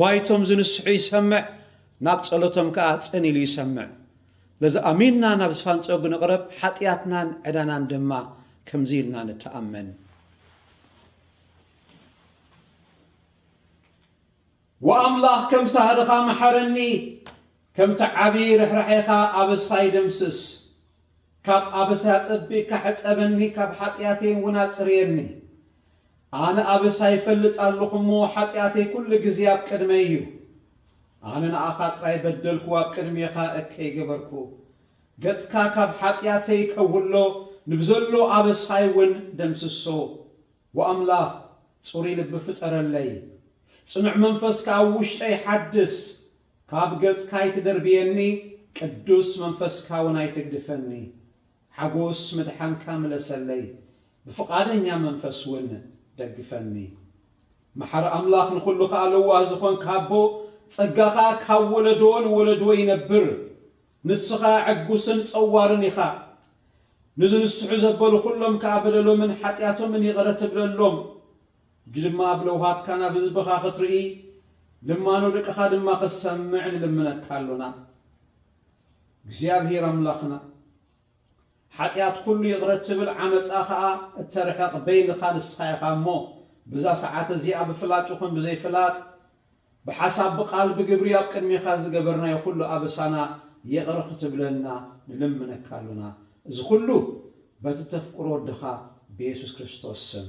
ጓይቶም ዝንስሑ ይሰምዕ፣ ናብ ጸሎቶም ከኣ ጽን ኢሉ ይሰምዕ። ስለዚ ኣሚንና ናብ ዝፋንጸጉ ንቕረብ፣ ሓጥያትናን ዕዳናን ድማ ከምዚ ኢልና ንተኣመን። ወኣምላኽ ከም ሳህርኻ መሓረኒ፣ ከምቲ ዓቢ ርሕራሔኻ ኣበሳይ ደምስስ። ካብ ኣበሳይ ኣጸቢቕካ ሕጸበኒ፣ ካብ ሓጥያተይን'ውን ኣጽርየኒ። ኣነ ኣበሳ ይፈልጥ ኣሎኹ እሞ፣ ሓጢኣተይ ኩሉ ግዜ ኣብ ቅድመይ እዩ። ኣነ ንኣኻ ጥራይ በደልኩ፣ ኣብ ቅድሜኻ እከይ ገበርኩ። ገጽካ ካብ ሓጢኣተይ ከውሎ፣ ንብዘሎ ኣበሳይ ውን ደምስሶ። ጓ ኣምላኽ፣ ጽሩይ ልቢ ፍጠረለይ፣ ጽኑዕ መንፈስ ከኣ ኣብ ውሽጠይ ሓድስ። ካብ ገጽካ ኣይትደርብየኒ፣ ቅዱስ መንፈስካ ውን ኣይትግድፈኒ። ሓጎስ ምድሓንካ ምለሰለይ፣ ብፍቓደኛ መንፈስ ውን ደግፈኒ። መሓሪ ኣምላኽ ንኹሉ ከኣ ለዋህ ዝኾንካ ኣቦ ጸጋኻ ካብ ወለዶ ንወለዶ ይነብር ንስኻ ዕጉስን ጸዋርን ኢኻ ንዝንስሑ ዘበሉ ኩሎም ከኣ በደሎምን ሓጢኣቶምን ይቕረ ትብለሎም ሕጂ ድማ ኣብ ለውሃትካ ናብ ህዝብኻ ክትርኢ ልማኖ ደቅኻ ድማ ክትሰምዕ ንልምነካ ኣሎና እግዚኣብሄር ኣምላኽና ሓጢኣት ኩሉ ይቕረ እትብል ዓመጻ ከኣ እተርሕቕ በይንኻ ንስኻ ኢኻ እሞ ብዛ ሰዓት እዚኣ ብፍላጥ ይኹን ብዘይ ፍላጥ ብሓሳብ ብቓል ብግብሪ ኣብ ቅድሜኻ ዝገበርናዮ ኩሉ ኣበሳና ይቕረ ክትብለልና ንልምነካ ኣሎና እዚ ኩሉ በቲ እተፍቅሮ ወድኻ ብየሱስ ክርስቶስ ስም።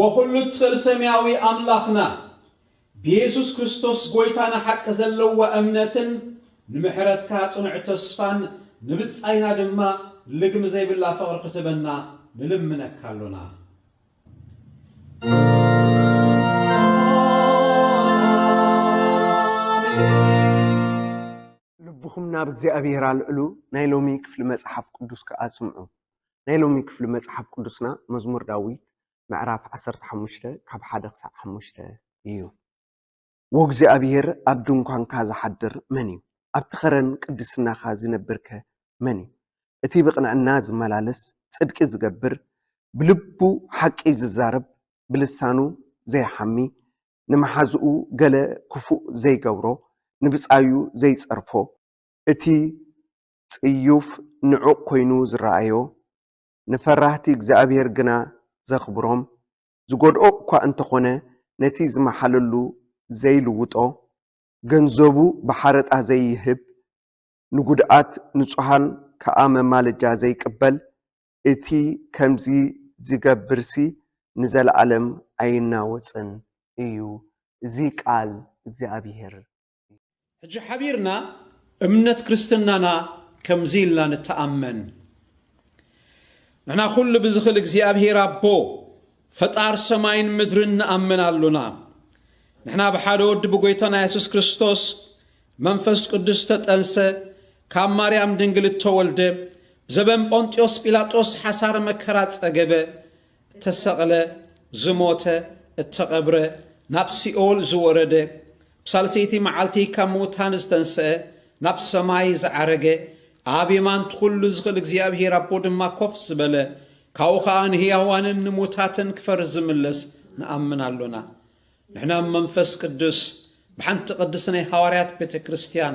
ወኩሉ ትክእል ሰምያዊ ኣምላክና ብየሱስ ክርስቶስ ጎይታና ሓቂ ዘለዋ እምነትን ንምሕረትካ ጽኑዕ ተስፋን ንብጻይና ድማ ልግሚ ዘይብላ ፍቅሪ ክትበና ንልምነካ ኣሎና። ልብኹም ናብ እግዚኣብሔር ኣልዕሉ፣ ናይ ሎሚ ክፍሊ መጽሓፍ ቅዱስ ከኣ ስምዑ። ናይ ሎሚ ክፍሊ መጽሓፍ ቅዱስና መዝሙር ዳዊት ምዕራፍ ዓሰርተ ሓሙሽተ ካብ ሓደ ክሳዕ ሓሙሽተ እዩ። ወእግዚኣብሔር ኣብ ድንኳንካ ዝሓድር መን እዩ? ኣብቲ ኸረን ቅድስናኻ ዚነብርከ መን እዩ? እቲ ብቕንዕና ዚመላለስ፣ ጽድቂ ዚገብር፣ ብልቡ ሓቂ ዚዛረብ፣ ብልሳኑ ዘይሓሚ፣ ንመሓዝኡ ገለ ክፉእ ዘይገብሮ፣ ንብጻዩ ዘይጸርፎ፣ እቲ ጽዩፍ ንዑቕ ኮይኑ ዝረኣዮ፣ ንፈራህቲ እግዚኣብሄር ግና ዘኽብሮም፣ ዝጐድኦ እኳ እንተ ዀነ ነቲ ዝመሓለሉ ዘይልውጦ፣ ገንዘቡ ብሓረጣ ዘይህብ፣ ንጕድኣት ንጹሃን ከኣ መማለጃ ዘይቅበል፣ እቲ ከምዚ ዚገብርሲ ንዘለኣለም ኣይናወጽን እዩ። እዚ ቃል እግዚኣብሄር ሕጂ ሓቢርና እምነት ክርስትናና ከምዚ ኢልና ንተኣመን፣ ንሕና ኩሉ ብዝኽል እግዚኣብሔር ኣቦ ፈጣር ሰማይን ምድርን ንኣምን ኣሎና። ንሕና ብሓደ ወዲ ብጎይታና የሱስ ክርስቶስ መንፈስ ቅዱስ ተጠንሰ፣ ካብ ማርያም ድንግል እተወልደ፣ ብዘበን ጶንጥዮስ ጲላጦስ ሓሳረ መከራ ጸገበ፣ እተሰቕለ፣ ዝሞተ፣ እተቐብረ፣ ናብ ሲኦል ዝወረደ፣ ብሳልሰይቲ መዓልቲ ካብ ምዉታን ዝተንስአ፣ ናብ ሰማይ ዝዓረገ፣ ኣብ የማንቲ ዅሉ ዝኽእል እግዚኣብሄር ኣቦ ድማ ኮፍ ዝበለ፣ ካብኡ ኸኣ ንህያዋንን ንሙታትን ክፈርድ ዝምለስ ንኣምን ኣሎና። ንሕና መንፈስ ቅዱስ ብሓንቲ ቅድስት ናይ ሃዋርያት ቤተ ክርስትያን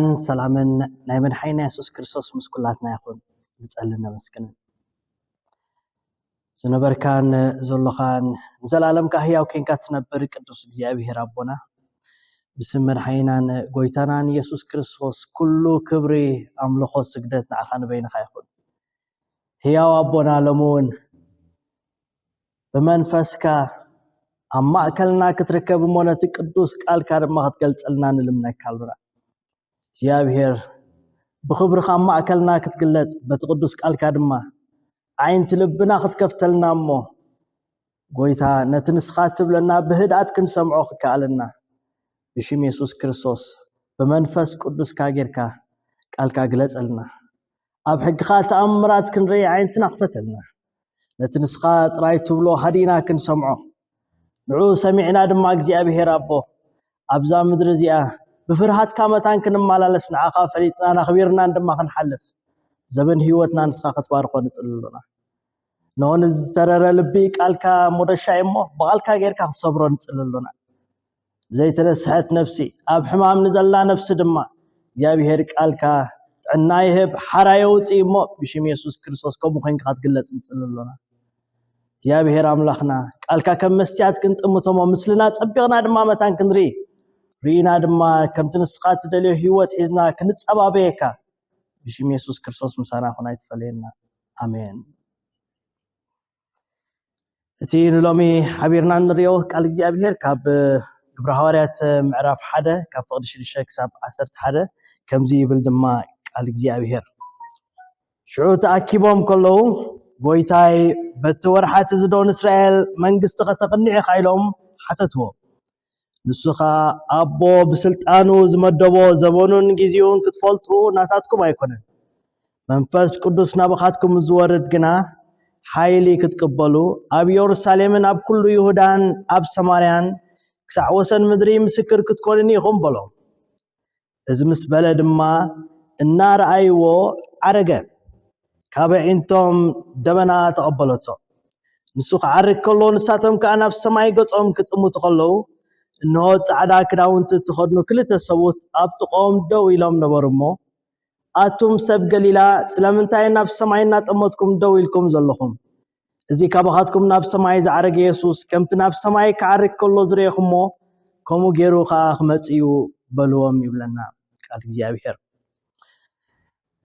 ን ሰላምን ናይ መድሓኒና የሱስ ክርስቶስ ምስ ኩላትና ይኹን ንጸልን ነመስግንን። ዝነበርካን ዘሎኻን ንዘለኣለም ከኣ ህያው ኴንካ ትነብር ቅዱስ እግዚኣብሄር ኣቦና ብስም መድሓኒናን ጎይታናን የሱስ ክርስቶስ ኩሉ ክብሪ ኣምልኾ ስግደት ንዓኻ ንበይንኻ ይኹን ህያው ኣቦና ሎሚ እውን ብመንፈስካ ኣብ ማእከልና ክትርከብ እሞ ነቲ ቅዱስ ቃልካ ድማ ክትገልጸልና ንልምነካ ኣሉና እግዚኣብሔር ብኽብርኻ ኣብ ማእከልና ክትግለጽ በቲ ቅዱስ ቃልካ ድማ ዓይንቲ ልብና ክትከፍተልና እሞ ጎይታ ነቲ ንስኻ እትብለና ብህድኣት ክንሰምዖ ክከኣለና ብሽም የሱስ ክርስቶስ ብመንፈስ ቅዱስካ ጌርካ ቃልካ ግለጸልና ኣብ ሕግኻ ተኣምራት ክንርኢ ዓይንትና ክፈተልና ነቲ ንስኻ ጥራይ ትብሎ ሃዲእና ክንሰምዖ ንዑ ሰሚዕና ድማ እግዚኣብሄር ኣቦ ኣብዛ ምድሪ እዚኣ ብፍርሃትካ መታን ክንመላለስ ንዓኻ ፈሊጥናን ኣኽቢርናን ድማ ክንሓልፍ ዘበን ህይወትና ንስኻ ክትባርኾ ንፅሊ ኣሎና እንሆ ንዝተረረ ልቢ ቃልካ ሞደሻ እሞ ብቓልካ ጌርካ ክሰብሮ ንፅሊ ኣሎና ዘይተነስሐት ነፍሲ ኣብ ሕማም ንዘላ ነፍሲ ድማ እግዚኣብሄር ቃልካ ጥዕና ይህብ ሓራ የውፅእ እሞ ብሽም የሱስ ክርስቶስ ከምኡ ኮንካ ክትግለፅ ንፅሊ ኣሎና እግዚኣብሄር ኣምላኽና ቃልካ ከም መስትያት ክንጥምቶሞ ምስልና ፀቢቕና ድማ መታን ክንርኢ ርኢና ድማ ከምቲ ንስኻ እትደልዮ ህይወት ሒዝና ክንፀባበየካ ብሽም የሱስ ክርስቶስ ምሳና ኹን ኣይትፈለየና ኣሜን እቲ ንሎሚ ሓቢርና እንሪኦ ቃል እግዚኣብሔር ካብ ግብረ ሃዋርያት ምዕራፍ ሓደ ካብ ፍቕዲ ሽዱሽተ ክሳብ ዓሰርተ ሓደ ከምዚ ይብል ድማ ቃል እግዚኣብሔር ሽዑ ተኣኪቦም ከለዉ ጎይታይ በቲ ወርሓት እዚ ዶ ንእስራኤል መንግስቲ ከተቕኒዕ ኢኻ ኢሎም ሓተትዎ ንሱ ከኣ ኣቦ ብስልጣኑ ዝመደቦ ዘበኑን ግዜኡን ክትፈልጡ ናታትኩም ኣይኮነን። መንፈስ ቅዱስ ናባኻትኩም ምስ ዝወርድ ግና ሓይሊ ክትቅበሉ ኣብ የሩሳሌምን ኣብ ኩሉ ይሁዳን ኣብ ሰማርያን ክሳዕ ወሰን ምድሪ ምስክር ክትኮኑኒ ኢኹም በሎም። እዚ ምስ በለ ድማ እናረኣይዎ ዓረገ። ካብ ኣዒንቶም ደበና ተቐበለቶ። ንሱ ክዓርግ ከሎ ንሳቶም ከኣ ናብ ሰማይ ገጾም ክጥምቱ ከለዉ፣ እንሆ ጻዕዳ ክዳውንቲ እተኸድኑ ክልተ ሰብኡት ኣብ ጥቕኦም ደው ኢሎም ነበሩ እሞ፣ ኣቱም ሰብ ገሊላ፣ ስለምንታይ ናብ ሰማይ እናጠመትኩም ደው ኢልኩም ዘለኹም? እዚ ካባኻትኩም ናብ ሰማይ ዝዓረገ የሱስ ከምቲ ናብ ሰማይ ክዓርግ ከሎ ዝረኤኹሞ ከምኡ ገይሩ ከዓ ክመጽእ እዩ በልዎም ይብለና ቃል እግዚኣብሔር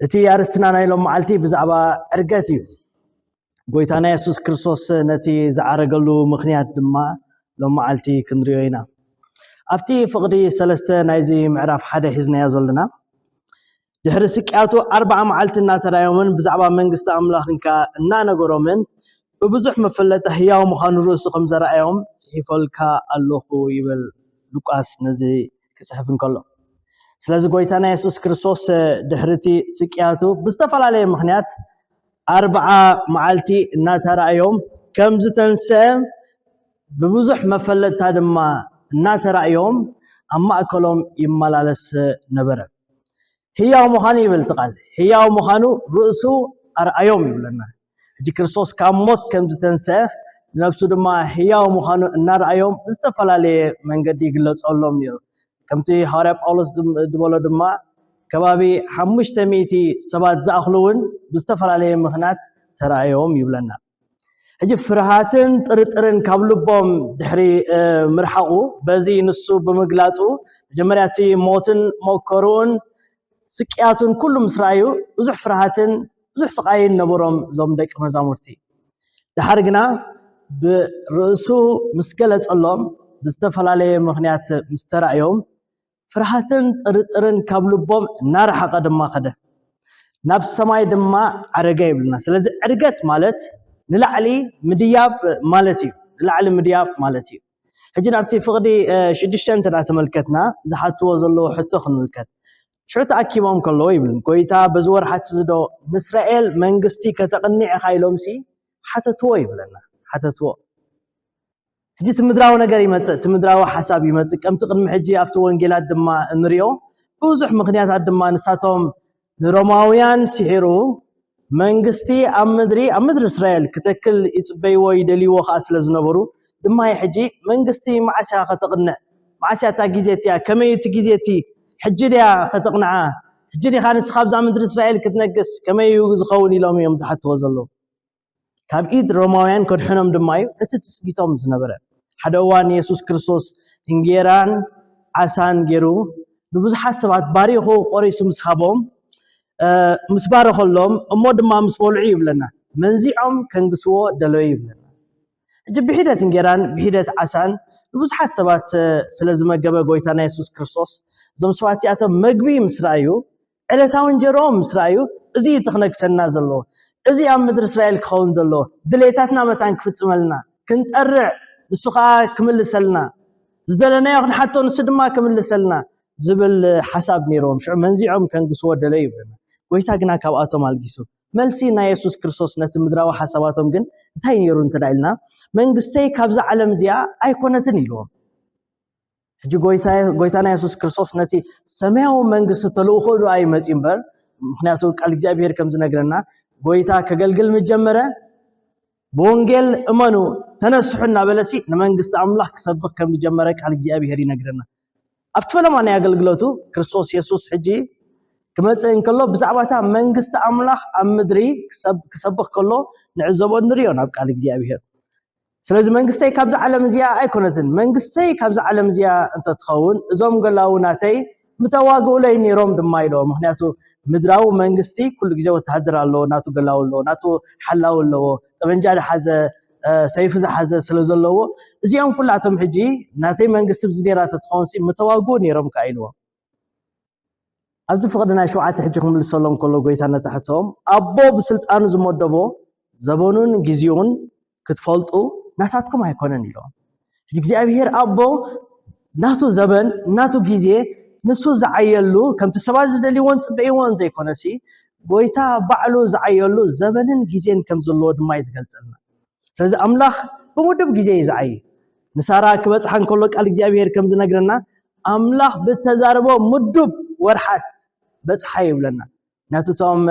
እቲ ኣርስትና ናይ ሎም መዓልቲ ብዛዕባ ዕርገት እዩ ጎይታና የሱስ ክርስቶስ ነቲ ዝዓረገሉ ምክንያት ድማ ሎም መዓልቲ ክንሪዮ ኢና ኣብቲ ፍቕዲ ሰለስተ ናይዚ ምዕራፍ ሓደ ሒዝናዮ ዘለና ድሕሪ ስቅያቱ ኣርብዓ መዓልቲ እናተራእዮምን ብዛዕባ መንግስቲ ኣምላኽን ከኣ እናነገሮምን ብብዙሕ መፈለጢ ህያው ምዃኑ ርእሱ ከም ዘርኣዮም ጽሒፈልካ ኣሎኹ ይብል ሉቃስ ነዚ ክጽሕፍ እንከሎ ስለዚ ጎይታና የሱስ ክርስቶስ ድሕሪ እቲ ስቅያቱ ብዝተፈላለየ ምኽንያት ኣርብዓ መዓልቲ እናተራእዮም ከም ዝተንስአ ብብዙሕ መፈለጥታ ድማ እናተራእዮም ኣብ ማእከሎም ይመላለስ ነበረ ህያው ምዃኑ ይብል እቲ ቃል ህያው ምዃኑ ርእሱ ኣርኣዮም ይብለና ሕጂ ክርስቶስ ካብ ሞት ከም ዝተንስአ ነብሱ ድማ ህያው ምዃኑ እናርኣዮም ብዝተፈላለየ መንገዲ ይግለጸሎም ነይሩ ከምቲ ሃዋርያ ጳውሎስ ዝበሎ ድማ ከባቢ ሓሙሽተ ሚእቲ ሰባት ዝኣኽሉ እውን ብዝተፈላለየ ምኽንያት ተራእዮም ይብለና ሕጂ ፍርሃትን ጥርጥርን ካብ ልቦም ድሕሪ ምርሓቑ በዚ ንሱ ብምግላጹ መጀመርያ እቲ ሞትን መከርኡን ስቅያቱን ኩሉ ምስ ረኣዩ ብዙሕ ፍርሃትን ብዙሕ ስቓይን ነበሮም እዞም ደቂ መዛሙርቲ ድሓር ግና ብርእሱ ምስ ገለጸሎም ብዝተፈላለየ ምክንያት ምስ ተራእዮም ፍርሃትን ጥርጥርን ካብ ልቦም እናረሓቐ ድማ ከደ ናብ ሰማይ ድማ ዓረገ ይብልና ስለዚ ዕርገት ማለት ንላዕሊ ምድያብ ማለት እዩ ንላዕሊ ምድያብ ማለት እዩ ሕጂ ናብቲ ፍቕዲ ሽዱሽተ እንተዳ ተመልከትና ዝሓትዎ ዘለዎ ሕቶ ክንምልከት ሽዑ ተኣኪቦም ከለዎ ይብል ጎይታ በዚ ወርሓት እዚ ዶ ንእስራኤል መንግስቲ ከተቕኒዕ ኢኻ ኢሎምሲ ሓተትዎ ይብለና ሓተትዎ ሕጂ እቲ ምድራዊ ነገር ይመጽእ፣ እቲ ምድራዊ ሓሳብ ይመጽእ፣ ከምቲ ቅድሚ ሕጂ ኣብቲ ወንጌላት ድማ እንሪኦ፣ ብዙሕ ምኽንያታት ድማ ንሳቶም ንሮማውያን ሲሒሩ መንግስቲ ኣብ ምድሪ ኣብ ምድሪ እስራኤል ክተክል ይጽበይዎ ይደልይዎ ከኣ ስለ ዝነበሩ ድማይ ሕጂ መንግስቲ መዓስ ኢኻ ከተቕንዕ መዓስ እያ እታ ግዜ እቲኣ ከመይ እቲ ግዜ እቲ ሕጂ ድያ ከተቕንዓ ሕጂ ዲኻ ንስኻ ኣብዛ ምድሪ እስራኤል ክትነግስ ከመይ እዩ ዝኸውን ኢሎም እዮም ዝሓትዎ ዘለዉ ካብ ኢድ ሮማውያን ከድሕኖም ድማ እዩ እቲ ትጽቢቶም ዝነበረ። ሓደ እዋን የሱስ ክርስቶስ እንጌራን ዓሳን ገይሩ ንብዙሓት ሰባት ባሪኹ ቆሪሱ ምስ ሃቦም ምስ ባረኸሎም እሞ ድማ ምስ በልዑ ይብለና መንዚዖም ከንግስዎ ደለዩ ይብለና። እጅ ብሒደት እንጌራን ብሒደት ዓሳን ንብዙሓት ሰባት ስለ ዝመገበ ጎይታና የሱስ ክርስቶስ እዞም ሰባት እዚኣቶም መግቢ ምስ ረኣዩ ዕለታዊ እንጀርኦም ምስ ረኣዩ፣ እዚ እዩ እቲ ክነግሰና ዘለዎ፣ እዚ ኣብ ምድሪ እስራኤል ክኸውን ዘለዎ፣ ድሌታትና መታን ክፍጽመልና ክንጠርዕ፣ ንሱ ኸኣ ክምልሰልና፣ ዝደለናዮ ክንሓቶ ንሱ ድማ ክምልሰልና ዝብል ሓሳብ ነይርዎም። ሽዑ መንዚዖም ከንግስዎ ደለዩ ይብለና። ጐይታ ግና ካብኣቶም ኣልጊሱ። መልሲ ናይ የሱስ ክርስቶስ ነቲ ምድራዊ ሓሳባቶም ግን እንታይ ነይሩ እንተ ኢልና፣ መንግስተይ ካብዛ ዓለም እዚኣ ኣይኰነትን ኢልዎም። ሕጂ ጎይታና የሱስ ክርስቶስ ነቲ ሰማያዊ መንግስቲ ተልእኾ ድኣ እዩ መጺኡ እምበር ምክንያቱ ቃል እግዚኣብሄር ከም ዝነግረና ጎይታ ከገልግል ምስ ጀመረ ብወንጌል እመኑ ተነስሑ እናበለሲ ንመንግስቲ ኣምላኽ ክሰብኽ ከም ዝጀመረ ቃል እግዚኣብሄር ይነግረና ኣብቲ ፈለማ ናይ ኣገልግሎቱ ክርስቶስ የሱስ ሕጂ ክመጽእ እንከሎ ብዛዕባ እታ መንግስቲ ኣምላኽ ኣብ ምድሪ ክሰብኽ ከሎ ንዕዘቦ ንሪኦ ናብ ቃል እግዚኣብሄር ስለዚ መንግስተይ ካብዛ ዓለም እዚኣ ኣይኮነትን። መንግስተይ ካብዛ ዓለም እዚኣ እንተትኸውን እዞም ገላዉ ናተይ ምተዋግኡለይ ነይሮም ድማ ኢሎ። ምክንያቱ ምድራዊ መንግስቲ ኩሉ ግዜ ወተሃደር ኣለዎ፣ ናቱ ገላዉ ኣለዎ፣ ናቱ ሓላዊ ኣለዎ፣ ጠበንጃ ዝሓዘ ሰይፊ ዝሓዘ ስለ ዘለዎ እዚኦም ኩላቶም ሕጂ ናተይ መንግስቲ ብዚ ነይራ ተትኸውን ሲ ምተዋግኡ ነይሮም ከኣ ኢልዎ። ኣብዚ ፍቕዲ ናይ ሸውዓተ ሕጂ ክምልሰሎም ከሎ ጎይታ ነቲ ሕቶም ኣቦ ብስልጣኑ ዝመደቦ ዘበኑን ግዜኡን ክትፈልጡ ናታትኩም ኣይኮነን ኢሎም። እግዚኣብሄር ኣቦ ናቱ ዘበን ናቱ ግዜ ንሱ ዝዓየሉ ከምቲ ሰባት ዝደልይዎን ጽበይዎን ዘይኮነሲ ጎይታ ባዕሉ ዝዓየሉ ዘበንን ግዜን ከም ዘለዎ ድማ እዩ ዝገልጸልና። ስለዚ ኣምላኽ ብውዱብ ግዜ እዩ ዝዓዪ። ንሳራ ክበጽሓ እንከሎ ቃል እግዚኣብሄር ከም ዝነግረና ኣምላኽ ብተዛረቦ ምዱብ ወርሓት በጽሓ ይብለና። ምክንያቱ እቶም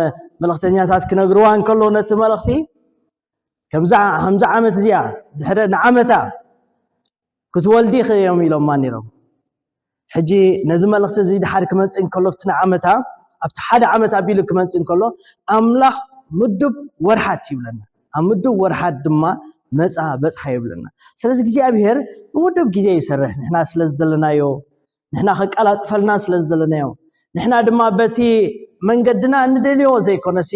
መልእኽተኛታት ክነግርዋ እንከሎ ነቲ መልእኽቲ ከምዚ ዓመት እዚኣ ድሕሪ ንዓመታ ክትወልዲ ኢኺ እዮም ኢሎማ ነይሮም። ሕጂ ነዚ መልእኽቲ እዚ ድሓር ክመጽእ እንከሎ ኣብቲ ንዓመታ ኣብቲ ሓደ ዓመት ኣቢሉ ክመጽእ እንከሎ ኣምላኽ ምዱብ ወርሓት ይብለና ኣብ ምዱብ ወርሓት ድማ መጻ በጽሓ ይብለና ስለዚ እግዚኣብሄር ብምዱብ ግዜ ይሰርሕ ንሕና ስለ ዝደለናዮ ንሕና ከቀላጥፈልና ስለ ዝደለናዮ ንሕና ድማ በቲ መንገድና እንደልዮ ዘይኮነሲ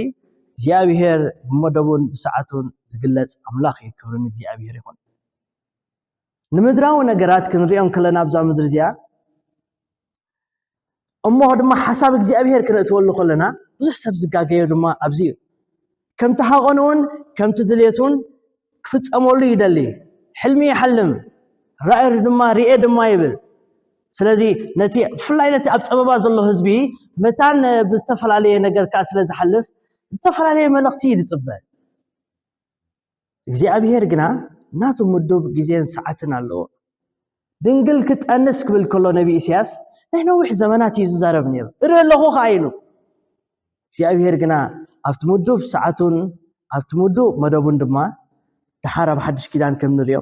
እግዚኣብሄር ብመደቡን ብሰዓቱን ዝግለጽ ኣምላኽ እዩ ክብርን እግዚኣብሄር ይኹን ንምድራዊ ነገራት ክንሪኦ እንከለና ኣብዛ ምድሪ እዚኣ እሞ ድማ ሓሳብ እግዚኣብሄር ክንእትወሉ ከለና ብዙሕ ሰብ ዝጋገዮ ድማ ኣብዚ እዩ ከምቲ ሃቐን እውን ከምቲ ድሌት እውን ክፍፀመሉ ይደሊ ሕልሚ ይሓልም ራእር ድማ ርኤ ድማ ይብል ስለዚ ነቲ ብፍላይ ነቲ ኣብ ፀበባ ዘሎ ህዝቢ መታን ብዝተፈላለየ ነገር ከዓ ስለ ዝሓልፍ ዝተፈላለየ መልእኽቲ እዩ ዝፅበ እግዚኣብሄር ግና ናቱ ምዱብ ግዜን ሰዓትን ኣለዎ። ድንግል ክጠንስ ክብል ከሎ ነቢ ኢሳያስ ናይ ነዊሕ ዘመናት እዩ ዝዛረብ ነይሩ እርኢ ኣለኹ ከዓ ኢሉ። እግዚኣብሄር ግና ኣብቲ ምዱብ ሰዓቱን ኣብቲ ምዱብ መደቡን ድማ ድሓር ኣብ ሓድሽ ኪዳን ከም ንሪኦ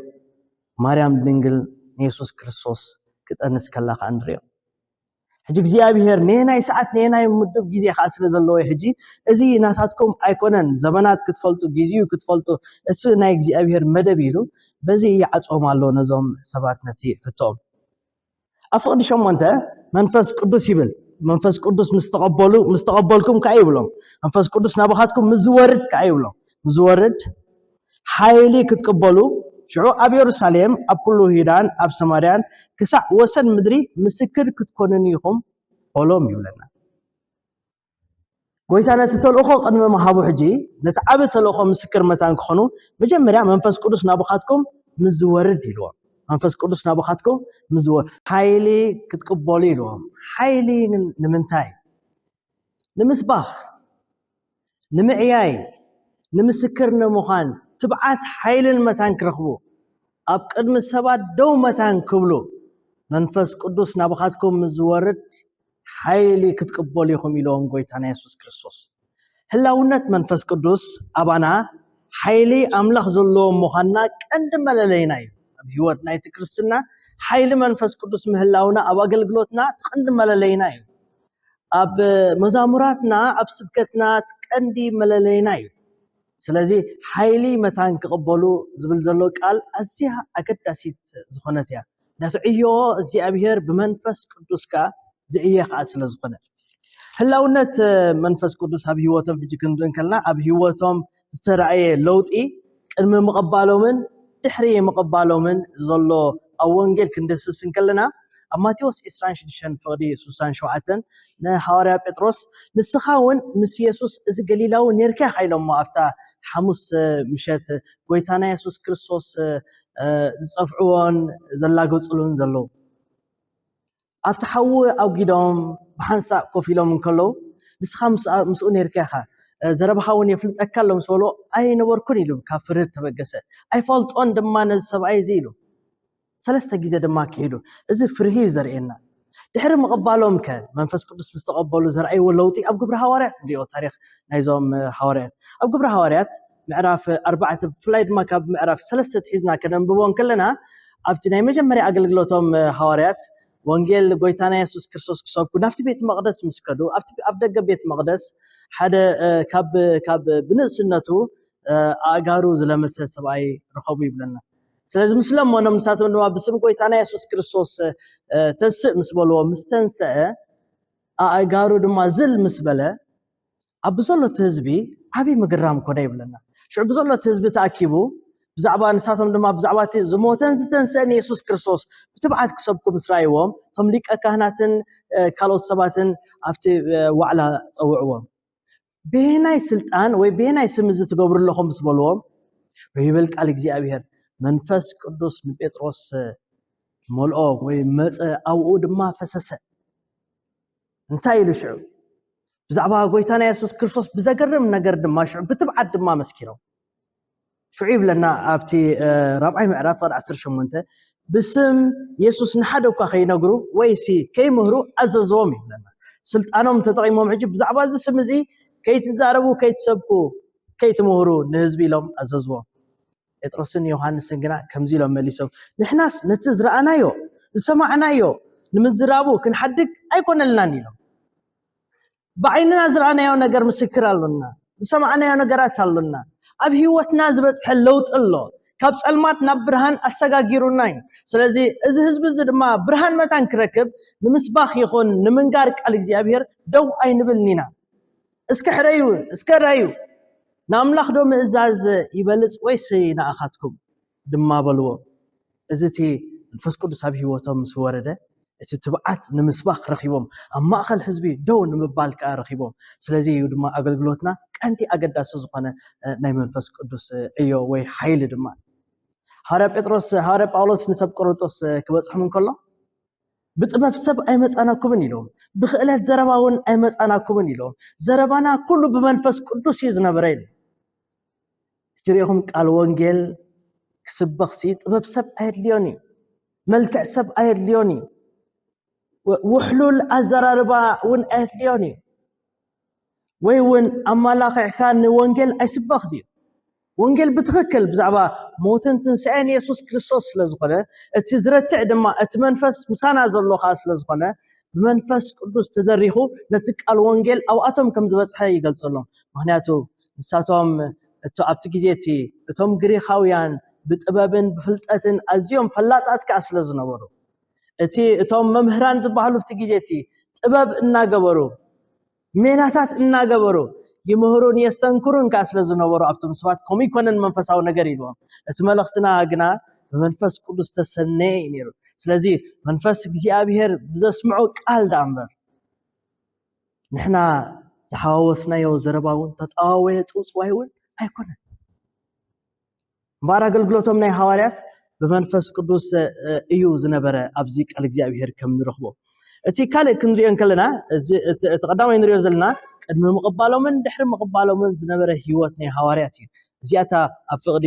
ማርያም ድንግል ንየሱስ ክርስቶስ ክጠንስ ከላ ከዓ ንሪኦ። ሕጂ እግዚኣብሄር ነየናይ ሰዓት ነየናይ ምዱብ ግዜ ከዓ ስለ ዘለዎ ሕጂ እዚ ናታትኩም ኣይኮነን ዘመናት ክትፈልጡ ግዜኡ ክትፈልጡ እቲ ናይ እግዚኣብሄር መደብ ኢሉ በዚ ይዓፅቦም ኣሎ ነዞም ሰባት ነቲ ሕቶኦም ኣብ ፍቕዲ ሸሞንተ መንፈስ ቅዱስ ይብል መንፈስ ቅዱስ ምስ ተቐበሉ ምስ ተቐበልኩም ከዓ ይብሎም መንፈስ ቅዱስ ናባኻትኩም ምስ ዝወርድ ከዓ ይብሎም ዝወርድ ሓይሊ ክትቅበሉ፣ ሽዑ ኣብ የሩሳሌም፣ ኣብ ኵሉ ይሁዳን ኣብ ሰማርያን ክሳዕ ወሰን ምድሪ ምስክር ክትኰኑኒ ኢኹም በሎም ይብለና። ጐይታ ነቲ ተልእኾ ቅድሚ ምሃቡ ሕጂ ነቲ ዓቢ ተልእኾ ምስክር መታን ክዀኑ መጀመርያ መንፈስ ቅዱስ ናባኻትኩም ምስ ዝወርድ ኢልዎም። መንፈስ ቅዱስ ናባኻትኩም ምስ ዝወርድ ሓይሊ ክትቅበሉ ኢልዎም። ሓይሊ ንምንታይ? ንምስባኽ፣ ንምዕያይ፣ ንምስክር ንምዃን ትብዓት ሓይልን መታን ክረኽቡ፣ ኣብ ቅድሚ ሰባት ደው መታን ክብሉ፣ መንፈስ ቅዱስ ናባኻትኩም ምስ ዝወርድ ሓይሊ ክትቅበሉ ኢኹም ኢሎም ጎይታና የሱስ ክርስቶስ። ህላውነት መንፈስ ቅዱስ ኣባና ሓይሊ ኣምላኽ ዘለዎም ምዃንና ቀንዲ መለለይና እዩ። ኣብ ህይወት ናይቲ ክርስትና ሓይሊ መንፈስ ቅዱስ ምህላውና ኣብ ኣገልግሎትና እቲ ቀንዲ መለለይና እዩ። ኣብ መዛሙራትና ኣብ ስብከትና እቲ ቀንዲ መለለይና እዩ ስለዚ ሓይሊ መታን ክቕበሉ ዝብል ዘሎ ቃል ኣዝያ ኣገዳሲት ዝኾነት እያ ነቲ ዕዮ እግዚኣብሔር ብመንፈስ ቅዱስ ከኣ ዝዕየ ከኣ ስለ ዝኾነ ህላውነት መንፈስ ቅዱስ ኣብ ህይወቶም ሕጂ ክንርኢ ከለና ኣብ ህይወቶም ዝተራእየ ለውጢ ቅድሚ ምቕባሎምን ድሕሪ ምቕባሎምን ዘሎ ኣብ ወንጌል ክንድህስስ እንከለና ኣብ ማቴዎስ ዕስራን ሽዱሽተን ፍቕዲ ስሳን ሸውዓተን ንሃዋርያ ጴጥሮስ ንስኻ እውን ምስ የሱስ እዚ ገሊላዊ ኔርካ ኢኻ ኢሎሞ ኣብታ ሓሙስ ምሸት ጎይታና የሱስ ክርስቶስ ዝጸፍዕዎን ዘላገጹሉን ዘለዉ ኣብቲ ሓዊ ኣውጊዶም ብሓንሳእ ኮፍ ኢሎም እንከለዉ፣ ንስኻ ምስኡ ነይርካ ኢኻ፣ ዘረባኻ እውን የፍልጠካ ኣሎ ምስ በልዎ፣ ኣይነበርኩን ኢሉ ካብ ፍርህት ተበገሰ። ኣይፈልጦን ድማ ነዚ ሰብኣይ እዚ ኢሉ። ሰለስተ ግዜ ድማ ክሒዱ። እዚ ፍርሂ እዩ ዘርእየና። ድሕሪ ምቕባሎም ከ መንፈስ ቅዱስ ምስ ተቐበሉ ዘርኣይዎ ለውጢ ኣብ ግብሪ ሃዋርያት ንሪኦ ታሪኽ ናይዞም ሃዋርያት ኣብ ግብሪ ሃዋርያት ምዕራፍ ኣርባዕተ ብፍላይ ድማ ካብ ምዕራፍ ሰለስተ ትሒዝና ከነንብቦ እንከለና ኣብቲ ናይ መጀመርያ ኣገልግሎቶም ሃዋርያት ወንጌል ጎይታና የሱስ ክርስቶስ ክሰብኩ ናብቲ ቤት መቕደስ ምስ ከዱ ኣብ ደገ ቤት መቕደስ ሓደ ካብ ብንእስነቱ ኣእጋሩ ዝለመሰ ሰብኣይ ረኸቡ ይብለና ስለዚ ምስ ለመኖም ንሳቶም ድማ ብስም ጎይታና የሱስ ክርስቶስ ተስእ ምስ በልዎ ምስ ተንስአ ኣእጋሩ ድማ ዝል ምስ በለ ኣብ ብዘሎ እቲ ህዝቢ ዓብዪ ምግራም ኮነ ይብለና ሽዑ ብዘሎ እቲ ህዝቢ ተኣኪቡ ብዛዕባ ንሳቶም ድማ ብዛዕባ እቲ ዝሞተን ዝተንስአን የሱስ ክርስቶስ ብትብዓት ክሰብኩ ምስ ረኣይዎም እቶም ሊቀ ካህናትን ካልኦት ሰባትን ኣብቲ ዋዕላ ጸውዕዎም ብሄናይ ስልጣን ወይ ብሄናይ ስም እዚ ትገብሩ ኣለኹም ምስ በልዎም ሽዑ ይብል ቃል እግዚኣብሄር መንፈስ ቅዱስ ንጴጥሮስ መልኦ ወይ መፀ ኣብኡ ድማ ፈሰሰ እንታይ ኢሉ ሽዑ? ብዛዕባ ጎይታና የሱስ ክርስቶስ ብዘገርም ነገር ድማ ሽዑ ብትብዓት ድማ መስኪሮም ሽዑ ይብለና ኣብቲ ራብዓይ ምዕራፍ ቅር 18 ብስም የሱስ ንሓደ እኳ ከይነግሩ ወይሲ ከይምህሩ ኣዘዘዎም ይብለና ስልጣኖም ተጠቂሞም ሕጂ ብዛዕባ እዚ ስም እዚ ከይትዛረቡ ከይትሰብኩ ከይትምህሩ ንህዝቢ ኢሎም ኣዘዝዎም ጴጥሮስን ዮሃንስን ግና ከምዚ ኢሎም መሊሶም፣ ንሕናስ ነቲ ዝረኣናዮ ዝሰማዕናዮ ንምዝራቡ ክንሓድግ ኣይኰነልናን ኢሎም። ብዓይንና ዝረኣናዮ ነገር ምስክር ኣሎና፣ ዝሰማዕናዮ ነገራት ኣሎና፣ ኣብ ህይወትና ዝበጽሐ ለውጢ ኣሎ፣ ካብ ጸልማት ናብ ብርሃን ኣሰጋጊሩና እዩ። ስለዚ እዚ ህዝቢ እዚ ድማ ብርሃን መታን ክረክብ ንምስባኽ ይኹን ንምንጋር ቃል እግዚኣብሄር ደው ኣይንብልን ኢና። እስከ ሕረዩ እስከ ራዩ ንኣምላኽ ዶ ምእዛዝ ይበልጽ ወይስ ንኣኻትኩም ድማ በልዎ እዚ እቲ መንፈስ ቅዱስ ኣብ ህይወቶም ምስ ወረደ እቲ ትብዓት ንምስባኽ ረኺቦም ኣብ ማእኸል ህዝቢ ደው ንምባል ከዓ ረኺቦም ስለዚ እዩ ድማ ኣገልግሎትና ቀንዲ ኣገዳሲ ዝኾነ ናይ መንፈስ ቅዱስ ዕዮ ወይ ሓይሊ ድማ ሃዋርያ ጴጥሮስ ሃዋርያ ጳውሎስ ንሰብ ቆሮንጦስ ክበጽሖም እንከሎ ብጥበብ ሰብ ኣይመጻናኩምን ኢሎም፣ ብክእለት ዘረባ እውን ኣይመጻናኩምን ኢሎም፣ ዘረባና ኩሉ ብመንፈስ ቅዱስ እዩ ዝነበረ ኢሎም። እቲ ርኢኹም ቃል ወንጌል ክስበኽሲ ጥበብ ሰብ ኣየድልዮን እዩ፣ መልክዕ ሰብ ኣየድልዮን እዩ፣ ውሕሉል ኣዘራርባ እውን ኣየድልዮን እዩ። ወይ እውን ኣመላኺዕካ ንወንጌል ኣይስበኽ ድዩ? ወንጌል ብትኽክል ብዛዕባ ሞትን ትንሣኤን የሱስ ክርስቶስ ስለ ዝኾነ እቲ ዝረትዕ ድማ እቲ መንፈስ ምሳና ዘሎ ኸዓ ስለ ዝኾነ ብመንፈስ ቅዱስ ተደሪኹ ነቲ ቃል ወንጌል ኣብኣቶም ከም ዝበጽሐ ይገልጸሎም ምክንያቱ ንሳቶም እቶ ኣብቲ ግዜ እቲ እቶም ግሪኻውያን ብጥበብን ብፍልጠትን ኣዝዮም ፈላጣት ከዓ ስለ ዝነበሩ እቲ እቶም መምህራን ዝበሃሉ ኣብቲ ግዜ እቲ ጥበብ እናገበሩ ሜላታት እናገበሩ ይምህሩን የስተንክሩን ከዓ ስለ ዝነበሩ ኣብቶም ሰባት ከምኡ ይኮነን መንፈሳዊ ነገር ኢልዎም እቲ መልእኽትና ግና ብመንፈስ ቅዱስ ተሰነየ እዩ ነይሩ ስለዚ መንፈስ እግዚኣብሄር ብዘስምዖ ቃል ዳኣ እምበር ንሕና ዝሓዋወስናዮ ዘረባ እውን ተጠዋወየ ፅውፅዋይ እውን ኣይኮነን እምበኣር ኣገልግሎቶም ናይ ሃዋርያት ብመንፈስ ቅዱስ እዩ ዝነበረ ኣብዚ ቃል እግዚኣብሔር ከም ንረኽቦ እቲ ካልእ ክንሪኦ እንከለና እቲ ቀዳማይ ንሪኦ ዘለና ቅድሚ ምቕባሎምን ድሕሪ ምቕባሎምን ዝነበረ ህይወት ናይ ሃዋርያት እዩ እዚኣታ ኣብ ፍቕዲ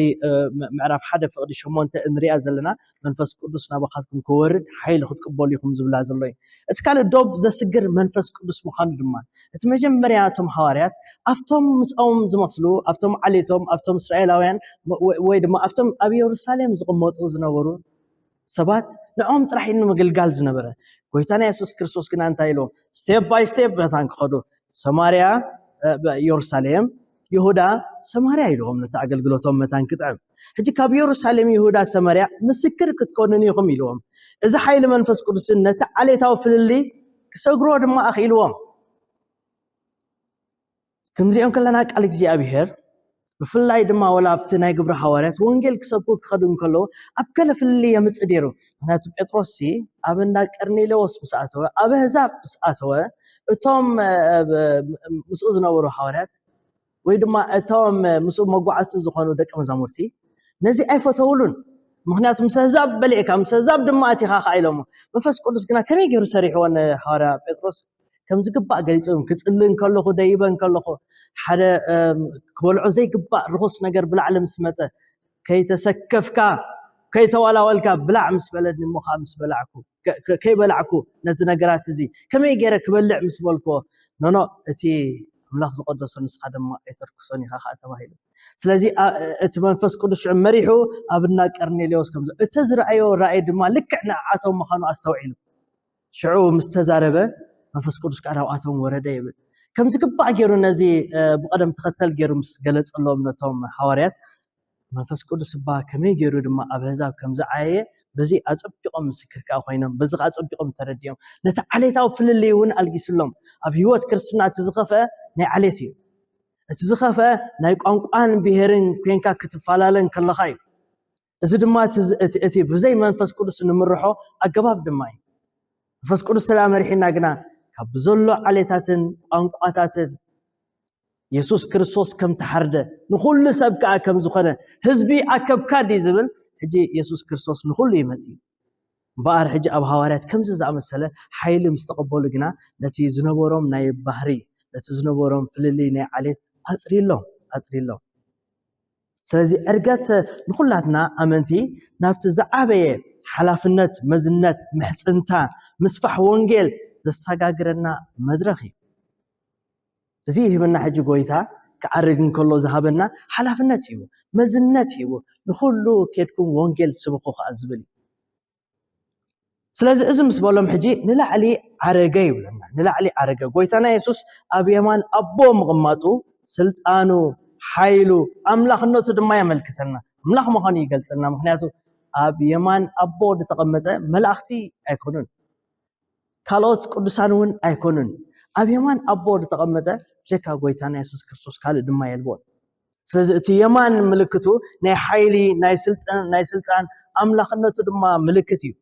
ምዕራፍ ሓደ ፍቕዲ ሸሞንተ እንሪኣ ዘለና መንፈስ ቅዱስ ናባኻትኩም ክወርድ ሓይሊ ክትቅበሉ ኢኹም ዝብላ ዘሎ እዩ እቲ ካልእ ዶብ ዘስግር መንፈስ ቅዱስ ምዃኑ ድማ እቲ መጀመርያ እቶም ሃዋርያት ኣብቶም ምስኦም ዝመስሉ ኣብቶም ዓሌቶም ኣብቶም እስራኤላውያን ወይ ድማ ኣብቶም ኣብ የሩሳሌም ዝቕመጡ ዝነበሩ ሰባት ንዕኦም ጥራሕ ንምግልጋል ዝነበረ ጎይታና የሱስ ክርስቶስ ግና እንታይ ኢሎም ስቴፕ ባይ ስቴፕ መታን ክኸዱ ሰማርያ የሩሳሌም ይሁዳ ሰማርያ ኢልዎም ነቲ ኣገልግሎቶም መታን ክጥዕም ሕጂ ካብ የሩሳሌም ይሁዳ ሰማርያ ምስክር ክትኮኑኒ ኢኹም ኢልዎም እዚ ሓይሊ መንፈስ ቅዱስን ነቲ ዓሌታዊ ፍልልይ ክሰግርዎ ድማ ኣኽኢልዎም ክንሪኦም ከለና ቃል እግዚኣብሄር ብፍላይ ድማ ወላ ኣብቲ ናይ ግብሪ ሃዋርያት ወንጌል ክሰብኩ ክኸዱ እንከለዉ ኣብ ገለ ፍልልይ የምጽእ ነይሩ ምክንያቱ ጴጥሮስ ሲ ኣብ እንዳ ቀርኔሌዎስ ምስ ኣተወ ኣብ ኣህዛብ ምስ ኣተወ እቶም ምስኡ ዝነበሩ ሃዋርያት ወይ ድማ እቶም ምስኡ መጓዓዝቲ ዝኾኑ ደቂ መዛሙርቲ ነዚ ኣይፈተውሉን ምክንያቱ ምስ ኣህዛብ በሊዕካ ምስ ኣህዛብ ድማ ኣቲኻ ከዓ ኢሎሞ መንፈስ ቅዱስ ግና ከመይ ገይሩ ሰሪሕዎ ንሃዋርያ ጴጥሮስ ከም ዝግባእ ገሊፆም ክፅሊ እንከለኹ ደይበ እንከለኹ ሓደ ክበልዖ ዘይግባእ ርኹስ ነገር ብላዕሊ ምስ መፀ ከይተሰከፍካ ከይተዋላወልካ ብላዕ ምስ በለኒ እሞ ከኣ ምስ በላዕኩ ከይበላዕኩ ነቲ ነገራት እዚ ከመይ ገይረ ክበልዕ ምስ በልክዎ ኖኖ እቲ ኣምላኽ ዝቐደሶ ንስኻ ድማ ኣይተርክሶን ኢኻ ከኣ ተባሂሉ ስለዚ እቲ መንፈስ ቅዱስ ሽዑ መሪሑ ኣብ እና ቀርኔሌዎስ ከም እቲ ዝረኣዮ ራእይ ድማ ልክዕ ንዓቶም ምዃኑ ኣስተውዒሉ ሽዑ ምስ ተዛረበ መንፈስ ቅዱስ ከኣ ናብኣቶም ወረደ ይብል። ከም ዝግባእ ገይሩ ነዚ ብቐደም ተኸተል ገይሩ ምስ ገለጸሎም ነቶም ሃዋርያት መንፈስ ቅዱስ እባ ከመይ ገይሩ ድማ ኣብ ኣህዛብ ከም ዝዓየየ በዚ ኣጸቢቖም ምስክር ከዓ ኮይኖም በዚ ከዓ ኣጸቢቖም ተረዲኦም ነቲ ዓሌታዊ ፍልልይ እውን ኣልጊስሎም ኣብ ህይወት ክርስትና እቲ ዝኸፍአ ናይ ዓሌት እዩ እቲ ዝኸፍአ ናይ ቋንቋን ብሄርን ኮንካ ክትፈላለን ከለኻ እዩ እዚ ድማ እቲ ብዘይ መንፈስ ቅዱስ ንምርሖ ኣገባብ ድማ እዩ መንፈስ ቅዱስ ስለ መሪሒና ግና ካብ ብዘሎ ዓሌታትን ቋንቋታትን የሱስ ክርስቶስ ከም ተሓርደ ንኹሉ ሰብ ከዓ ከም ዝኾነ ህዝቢ ኣከብካ ድዩ ዝብል ሕጂ የሱስ ክርስቶስ ንኹሉ እዩ መፅዩ እምበኣር ሕጂ ኣብ ሃዋርያት ከምዚ ዝኣመሰለ ሓይሊ ምስ ተቐበሉ ግና ነቲ ዝነበሮም ናይ ባህሪ ነቲ ዝነበሮም ፍልልይ ናይ ዓሌት ኣፅሪሎም ኣፅሪሎም ስለዚ ዕርገት ንኹላትና ኣመንቲ ናብቲ ዝዓበየ ሓላፍነት መዝነት ምሕጽንታ ምስፋሕ ወንጌል ዘሰጋግረና መድረኽ እዩ። እዚ ይህበና ሕጂ ጎይታ ክዓርግ እንከሎ ዝሃበና ሓላፍነት እዩ፣ መዝነት እዩ፣ ንኹሉ ኬድኩም ወንጌል ስብኹ ከኣ ዝብል እዩ። ስለዚ እዚ ምስ በሎም ሕጂ ንላዕሊ ዓረገ ይብለና ንላዕሊ ዓረገ ጎይታና የሱስ ኣብ የማን ኣቦ ምቕማጡ ስልጣኑ ሓይሉ ኣምላኽነቱ ድማ የመልክተና ኣምላኽ ምዃኑ ይገልጸልና ምክንያቱ ኣብ የማን ኣቦ ዝተቐመጠ መላእኽቲ ኣይኮኑን ካልኦት ቅዱሳን እውን ኣይኮኑን ኣብ የማን ኣቦ ዝተቐመጠ ጀካ ጎይታና የሱስ ክርስቶስ ካልእ ድማ የልቦን ስለዚ እቲ የማን ምልክቱ ናይ ሓይሊ ናይ ስልጣን ኣምላኽነቱ ድማ ምልክት እዩ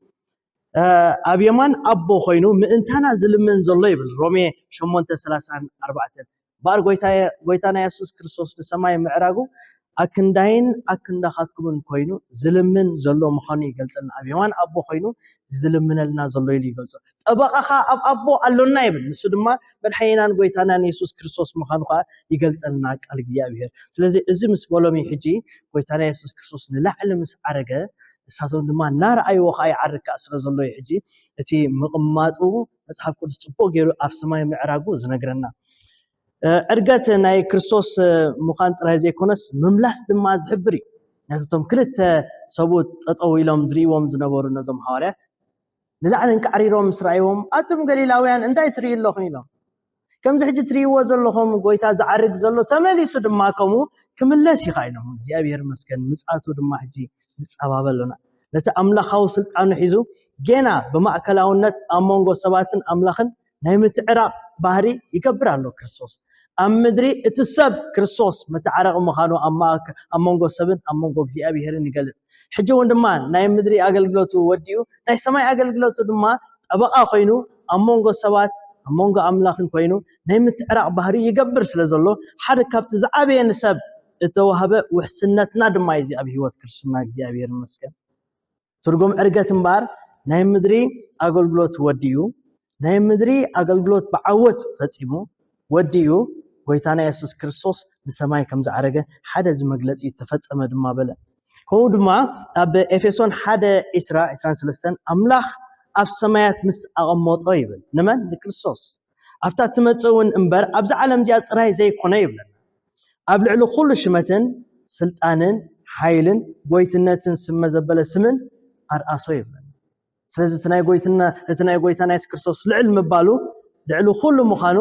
ኣብ የማን ኣቦ ኮይኑ ምእንታና ዝልምን ዘሎ ይብል ሮሜ 834 ባር ጎይታና የሱስ ክርስቶስ ንሰማይ ምዕራጉ ኣክንዳይን ኣክንዳኻትኩምን ኮይኑ ዝልምን ዘሎ ምዃኑ ይገልጸልና ኣብ የማን ኣቦ ኮይኑ ዝልምነልና ዘሎ ኢሉ ይገልጾ ጠበቓ ኸኣ ኣብ ኣቦ ኣሎና ይብል ንሱ ድማ መድሓኒናን ጎይታናን የሱስ ክርስቶስ ምዃኑ ኸኣ ይገልጸልና ቃል እግዚኣብሄር ስለዚ እዚ ምስ በሎም እዩ ሕጂ ጎይታና የሱስ ክርስቶስ ንላዕሊ ምስ ዓረገ ንሳቶም ድማ እናረኣይዎ ኸዓ ይዓርግ ከኣ ስለ ዘሎ እዩ ሕጂ እቲ ምቕማጡ መጽሓፍ ቅዱስ ጽቡቕ ገይሩ ኣብ ሰማይ ምዕራጉ ዝነግረና ዕርገት ናይ ክርስቶስ ምዃን ጥራይ ዘይኮነስ ምምላስ ድማ ዝሕብር እዩ ነቶም ክልተ ሰብኡት ጠጠው ኢሎም ዝርእዎም ዝነበሩ ነዞም ሃዋርያት ንላዕሊ እንቃዕሪሮም ምስ ረኣይዎም፣ ኣቱም ገሊላውያን፣ እንታይ ትርእዩ ኣሎኹም? ኢሎም። ከምዚ ሕጂ ትርእይዎ ዘሎኹም ጐይታ ዚዓርግ ዘሎ፣ ተመሊሱ ድማ ከምኡ ኪምለስ እዩ ኸኣ ኢሎም። እግዚኣብሄር ይመስገን፣ ምጽኣቱ ድማ ሕጂ ንጻባበ ኣሎና። ነቲ ኣምላኻዊ ስልጣኑ ሒዙ፣ ጌና ብማእከላውነት ኣብ መንጎ ሰባትን ኣምላኽን ናይ ምትዕራቕ ባህሪ ይገብር ኣሎ ክርስቶስ ኣብ ምድሪ እቲ ሰብ ክርስቶስ መተዓረቒ ምዃኑ ኣብ መንጎ ሰብን ኣብ መንጎ እግዚኣብሄርን ይገልጽ ሕጂ እውን ድማ ናይ ምድሪ ኣገልግሎቱ ወዲኡ ናይ ሰማይ ኣገልግሎቱ ድማ ጠበቓ ኮይኑ ኣብ መንጎ ሰባት ኣብ መንጎ ኣምላኽን ኮይኑ ናይ ምትዕራቕ ባህሪ ይገብር ስለ ዘሎ ሓደ ካብቲ ዝዓበየ ንሰብ እተዋህበ ውሕስነትና ድማ እዩ እዚ ኣብ ህይወት ክርስትና እግዚኣብሄር መስገን ትርጉም ዕርገት እምበኣር ናይ ምድሪ ኣገልግሎት ወዲኡ ናይ ምድሪ ኣገልግሎት ብዓወት ፈጺሙ ወዲኡ ጎይታና የሱስ ክርስቶስ ንሰማይ ከም ዝዓረገ ሓደ እዚ መግለጺ ተፈጸመ ድማ በለ ከምኡ ድማ ኣብ ኤፌሶን 1 23 ኣምላኽ ኣብ ሰማያት ምስ ኣቐመጦ ይብል ንመን ንክርስቶስ ኣብታ እትመጽእ እውን እምበር ኣብዚ ዓለም እዚኣ ጥራይ ዘይኮነ ይብለና። ኣብ ልዕሊ ኩሉ ሽመትን ስልጣንን ሓይልን ጎይትነትን ስመ ዘበለ ስምን ኣርኣሶ ይብለና። ስለዚ እቲ ናይ ጎይትና እቲ ናይ ጎይታና የሱስ ክርስቶስ ልዕል ምባሉ ልዕሊ ኩሉ ምዃኑ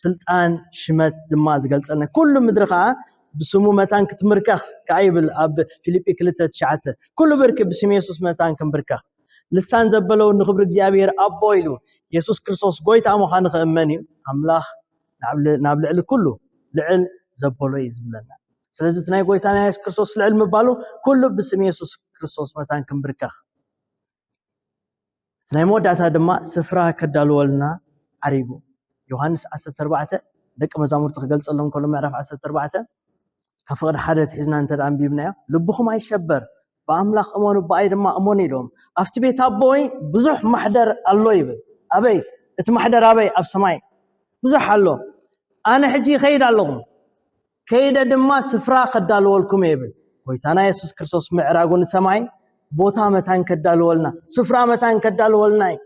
ስልጣን ሽመት ድማ ዝገልጸልና ኩሉ ምድሪ ከኣ ብስሙ መታን ክትምርከኽ ከኣ ይብል ኣብ ፊልጲ ክልተ ትሽዓተ ኩሉ ብርኪ ብስም የሱስ መታን ክንብርከኽ ልሳን ዘበለውን ንክብሪ እግዚኣብሔር ኣቦ ኢሉ የሱስ ክርስቶስ ጎይታ ምዃኑ ክእመን እዩ ኣምላኽ ናብ ልዕሊ ኩሉ ልዕል ዘበሎ እዩ ዝብለና ስለዚ እቲ ናይ ጎይታና የሱስ ክርስቶስ ልዕል ምባሉ ኩሉ ብስም የሱስ ክርስቶስ መታን ክንብርከኽ እቲ ናይ መወዳእታ ድማ ስፍራ ከዳልወልና ዓሪጉ ዮሃንስ 14 ደቂ መዛሙርቲ ክገልጸሎም ከሎ ምዕራፍ 14 ካብ ፍቕዲ ሓደ ትሒዝና እንተ ኣንቢብናዮ ልብኹም ኣይሸበር ብኣምላኽ እመኑ ብኣይ ድማ እመኑ ኢሎም ኣብቲ ቤት ኣቦይ ብዙሕ ማሕደር ኣሎ ይብል ኣበይ እቲ ማሕደር ኣበይ ኣብ ሰማይ ብዙሕ ኣሎ ኣነ ሕጂ ይኸይድ ኣለኹም ከይደ ድማ ስፍራ ከዳልወልኩም ይብል ጎይታና የሱስ ክርስቶስ ምዕራጉ ንሰማይ ቦታ መታን ከዳልወልና ስፍራ መታን ከዳልወልና እዩ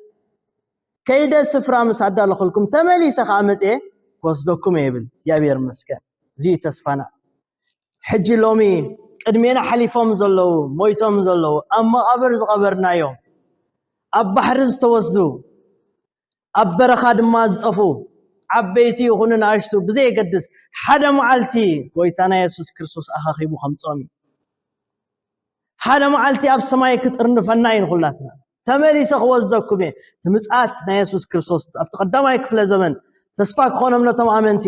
ከይደ ስፍራ ምስ ኣዳለኹልኩም ተመሊሰ ከኣ መጽየ ክወስደኩም እየ ይብል። እግዚኣብሔር ይመስገን እዚ እዩ ተስፋና። ሕጂ ሎሚ ቅድሜና ሓሊፎም ዘለዉ ሞይቶም ዘለዉ ኣብ መቓብር ዝቐበርናዮም ኣብ ባሕሪ ዝተወስዱ ኣብ በረኻ ድማ ዝጠፉ ዓበይቲ ይኹኑ ንኣሽቱ ብዘየገድስ ሓደ መዓልቲ ጎይታና የሱስ ክርስቶስ ኣኻኺቡ ከምጾም እዩ ሓደ መዓልቲ ኣብ ሰማይ ክጥርንፈና እዩ ንኹላትና ተመሊሰ ክወዘኩም እየ እቲ ምጽኣት ናይ የሱስ ክርስቶስ ኣብቲ ቀዳማይ ክፍለ ዘመን ተስፋ ክኾኖም ነቶም ኣመንቲ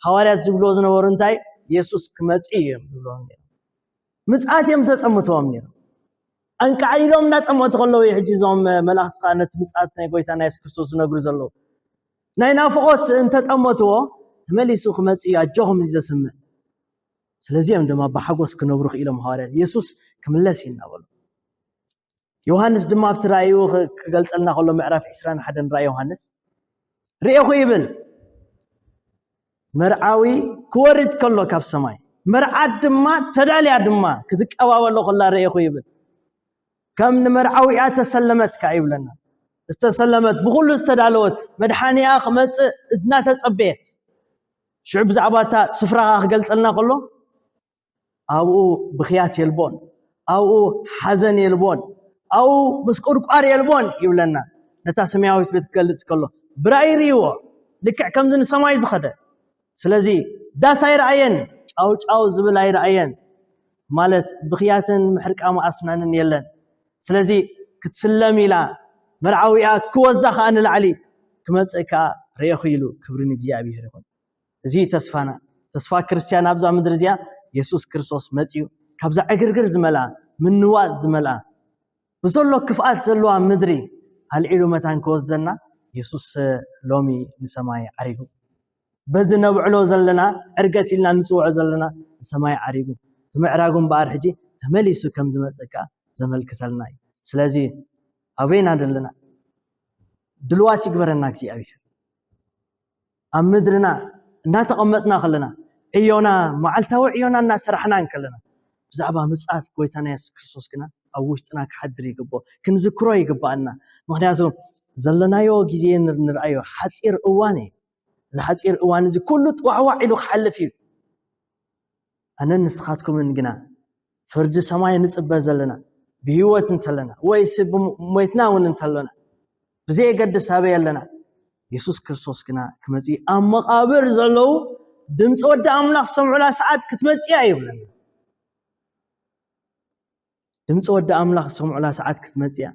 ሃዋርያት ዝብልዎ ዝነበሩ እንታይ የሱስ ክመጽእ እዩ እዮም ዝብልዎም ነይሩ ምጽኣት እዮም ተጠምትዎም ነይሩ ኣንቃዕሊሎም እናጠመቱ ከለዉ እዩ ሕጂ እዞም መላእኽቲ ከዓ ነቲ ምጽኣት ናይ ጎይታ ናይ የሱስ ክርስቶስ ዝነግሩ ዘለዉ ናይ ናፍቖት እንተጠመትዎ ተመሊሱ ክመጽእ እዩ ኣጆኹም እዩ ዘስምዕ ስለዚ እዮም ድማ ብሓጎስ ክነብሩ ክኢሎም ሃዋርያት የሱስ ክምለስ እዩ እናበሉ ዮሃንስ ድማ ኣብቲ ራእዩ ክገልጸልና ከሎ ምዕራፍ 21 ራእይ ዮሃንስ ርኤኹ ይብል መርዓዊ ክወርድ ከሎ ካብ ሰማይ መርዓት ድማ ተዳልያ ድማ ክትቀባበሎ ከላ ርኤኹ ይብል ከም ንመርዓዊያ ተሰለመት ከዓ ይብለና ዝተሰለመት ብኩሉ ዝተዳለወት መድሓኒኣ ክመፅእ እናተፀበየት ሽዑ ብዛዕባ እታ ስፍራኻ ክገልፀልና ከሎ ኣብኡ ብኽያት የልቦን፣ ኣብኡ ሓዘን የልቦን፣ ኣብኡ ምስቁርቋር የልቦን ይብለና ነታ ሰማያዊት ቤት ክገልጽ ከሎ ብራእይ ርእይዎ ልክዕ ከምዚ ንሰማይ ዝኸደ ስለዚ ዳስ ኣይረኣየን ጫውጫው ዝብል ኣይረኣየን ማለት ብኽያትን ምሕርቃም ኣስናንን የለን ስለዚ ክትስለም ኢላ መርዓዊኣ ክወዛ ከዓ ንላዕሊ ክመፅእ ከዓ ርኤኹ ኢሉ ክብሪ ንእግዚኣብሔር ይኹን እዚ እዩ ተስፋና። ተስፋ ክርስትያን ኣብዛ ምድሪ እዚኣ የሱስ ክርስቶስ መጺኡ ካብዛ ዕግርግር ዝመልኣ ምንዋጽ ዝመልኣ ብዘሎ ክፍኣት ዘለዋ ምድሪ ኣልዒሉ መታን ክወስደና የሱስ ሎሚ ንሰማይ ዓሪጉ። በዚ ነብዕሎ ዘለና ዕርገት ኢልና ንጽውዖ ዘለና ንሰማይ ዓሪጉ ትምዕራጉ እምበኣር ሕጂ ተመሊሱ ከም ዝመጽእ ከኣ ዘመልክተልና እዩ። ስለዚ ኣበይና ዘለና ድልዋት ይግበረና እግዚኣብሔር። ኣብ ምድርና እናተቐመጥና ከለና ዕዮና መዓልታዊ ዕዮና እናሰራሕና እንከለና ብዛዕባ ምጽኣት ጎይታና የሱስ ክርስቶስ ግና ኣብ ውሽጥና ክሓድር ይግብኦ ክንዝክሮ ይግባኣና ምክንያቱ ዘለናዮ ግዜ ንርኣዮ ሓፂር እዋን እዩ እዚ ሓፂር እዋን እዚ ኩሉ ጥዋዕዋዕ ኢሉ ክሓልፍ እዩ ኣነን ንስኻትኩምን ግና ፍርዲ ሰማይ ንጽበ ዘለና ብህይወት እንተለና ወይስ ሞይትና እውን እንተለና ብዘየገድስ ኣበይ ኣለና የሱስ ክርስቶስ ግና ክመፅእ ኣብ መቓብር ዘለዉ ድምፂ ወዲ ኣምላኽ ዝሰምዑላ ሰዓት ክትመፅያ ይብለና ድምፂ ወዲ ኣምላኽ ዝሰምዑላ ሰዓት ክትመፅያ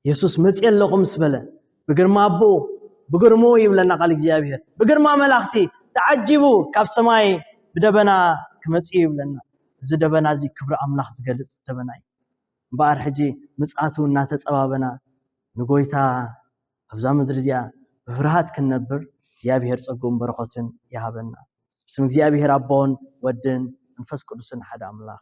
የሱስ መፅየ ኣለኹ ምስ በለ ብግርማ ኣቦኡ ብግርሙ ይብለና ቃል እግዚኣብሔር ብግርማ መላእኽቲ ተዓጂቡ ካብ ሰማይ ብደበና ክመፅእ ይብለና እዚ ደበና እዚ ክብሪ ኣምላኽ ዝገልፅ ደበና እዩ እምበኣር ሕጂ ምፅኣቱ እናተፀባበና ንጎይታ ኣብዛ ምድሪ እዚኣ ብፍርሃት ክንነብር እግዚኣብሔር ፀጉን በረኸትን ይሃበና ስም እግዚኣብሔር ኣቦን ወድን መንፈስ ቅዱስን ሓደ ኣምላኽ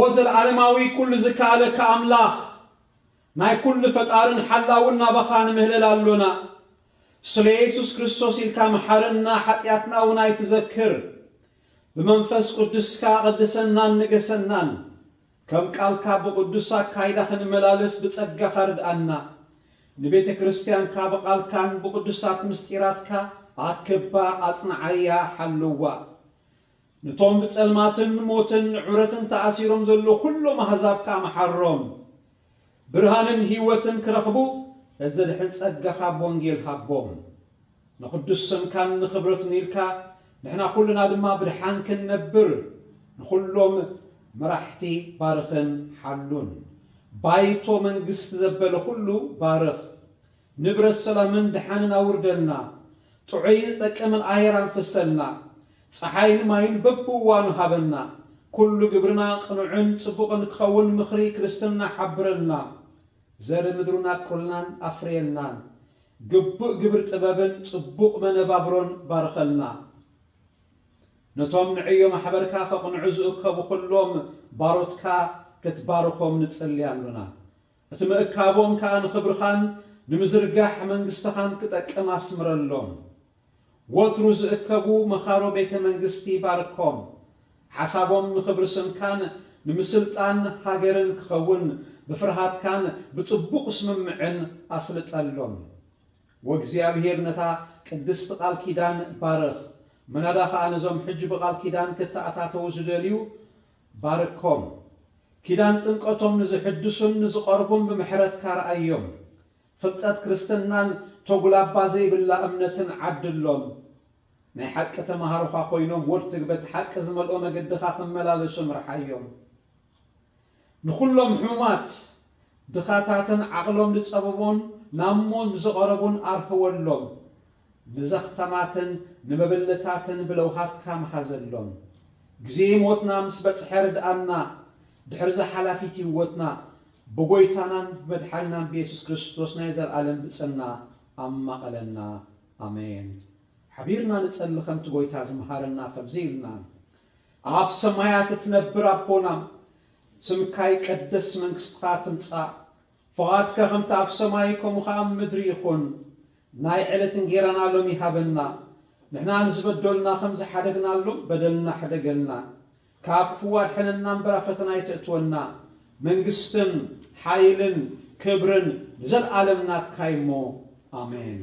ወዘለዓለማዊ ኩሉ ዝከኣለካ ኣምላኽ ናይ ኩሉ ፈጣርን ሓላውን ናባኻ ንምህለል ኣሎና ስለ የሱስ ክርስቶስ ኢልካ መሓረና ሓጥያትና ውን ኣይትዘክር ብመንፈስ ቁድስካ ቐድሰናን ንገሰናን ከም ቃልካ ብቕዱስ ኣካይዳ ክንመላለስ ብጸጋኻ ርድኣና ንቤተ ክርስትያንካ ብቓልካን ብቕዱሳት ምስጢራትካ ኣክባ ኣጽንዓያ ሓልዋ ነቶም ብጸልማትን ሞትን ንዑረትን ተኣሲሮም ዘለዉ ኩሎም ኣህዛብ ከኣ መሓሮም። ብርሃንን ህይወትን ክረኽቡ ነቲ ዘድሕን ጸጋኻ ብወንጌል ሃቦም። ንቕዱስ ስምካን ንኽብረቱን ኢልካ ንሕና ኩልና ድማ ብድሓን ክንነብር ንኹሎም መራሕቲ ባርኽን ሓሉን። ባይቶ መንግስቲ ዘበለ ኩሉ ባርኽ። ንብረት ሰላምን ድሓንን ኣውርደልና ጥዑይን ዝጠቅምን ኣየር ኣንፍሰልና ጸሓይን ማይን በብእዋኑ ሃበና ኩሉ ግብርና ቅኑዕን ጽቡቕን ክኸውን ምኽሪ ክርስትና ሓብረልና ዘርኢ ምድሩን ኣብቁልናን ኣፍርየልናን ግቡእ ግብሪ ጥበብን ጽቡቕ መነባብሮን ባርኸልና ነቶም ንዕዮ ማሕበርካ ከቕንዑ ዝእከቡ ኩሎም ባሮትካ ክትባርኾም ንጽሊ ኣሎና እቲ ምእካቦም ከኣ ንኽብርኻን ንምዝርጋሕ መንግስትኻን ክጠቅም ኣስምረሎም። ወትሩ ዝእከቡ መኻሮ ቤተ መንግስቲ ባርኮም። ሓሳቦም ንኽብሪ ስምካን ንምስልጣን ሃገርን ክኸውን ብፍርሃትካን ብጽቡቕ ስምምዕን ኣስልጠሎም። ወእግዚኣብሔር ነታ ቅድስቲ ቃል ኪዳን ባርኽ። ምናዳ ኸኣ ነዞም ሕጂ ብቃል ኪዳን ክተኣታተዉ ዝደልዩ ባርኮም፣ ኪዳን ጥምቀቶም ንዝሕድሱን ንዝቐርቡን ብምሕረትካ ርኣዮም፣ ፍልጠት ክርስትናን ተጉላባ ዘይብላ እምነትን ዓድሎም፣ ናይ ሓቂ ተመሃሮኻ ኮይኖም ወድትግ በቲ ሓቂ ዝመልኦ መገድኻ ክመላለሱ ምርሓዮም። ንኹሎም ሕሙማት ድኻታትን ዓቕሎም ንጸበቡን ናብ ሞት ንዝቐረቡን ኣርህወሎም፣ ንዘኽተማትን ንመበለታትን ብለውሃትካ ምሃዘሎም። ግዜ ሞትና ምስ በጽሐ ርድኣና፣ ድሕሪ'ዛ ሓላፊት ህይወትና ብጐይታናን ብመድሓኒናን ብየሱስ ክርስቶስ ናይ ዘለኣለም ብጽና ኣማቕለና። ኣሜን። ሓቢርና ንጸሊ ከምቲ ጐይታ ዝመሃረና ከምዚ ኢልና፣ ኣብ ሰማያት እትነብር ኣቦና፣ ስምካ ይቀደስ መንግስትካ ትምጻእ ፍቃድካ ከምቲ ኣብ ሰማይ ከምኡ ከኣ ኣብ ምድሪ ይኩን ናይ ዕለት እንጌራና ሎሚ ሃበና ንሕና ንዝበዶልና ከም ዝሓደግናሎም በደልና ሕደገልና ካብ ክፍኡ ኣድሕነና እምበር ኣብ ፈተና ኣይተእትወና መንግስትን ሓይልን ክብርን ንዘልኣለም ናትካ እዩሞ ኣሜን።